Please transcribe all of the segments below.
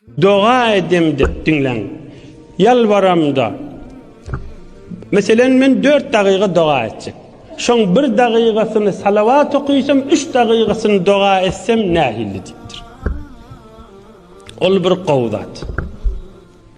Doga edem dep diňläň. Ýalbaramda. Meselen men dört dagyga doga etjek. Şoň bir dagygasyny salawat okysam üç dagygasyny doga etsem nähilli diýipdir. Ol bir gowy zat.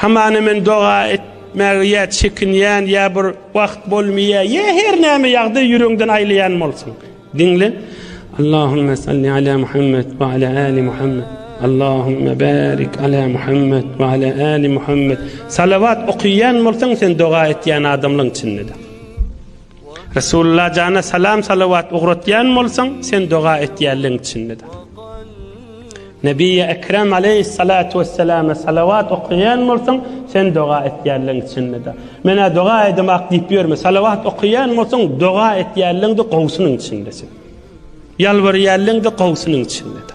Hamana men doga et etmäge ýa çekinýän ýa bir wagt bolmaýa ýa her näme ýagdaý ýüregiňden aýlaýan bolsun diňle Allahümme salli ala Muhammed ve ala ali Muhammed Allahümme barik ala Muhammed ve ala ali Muhammed salavat okuyan bolsan sen doga etýän adamlaryň içinde Resulullah jana salam salawat ugratýan bolsaň sen doga etýänligiň içindedir. Nebiýi Ekrem aleyhissalatu vesselam salawat okaýan bolsaň sen doga etýänligiň içindedir. Menä doga edem ak diýip ýörme salawat okaýan bolsaň doga etýänligiňde gowsunyň içindesin. Ýalbarýanlygyňda gowsunyň içindedir.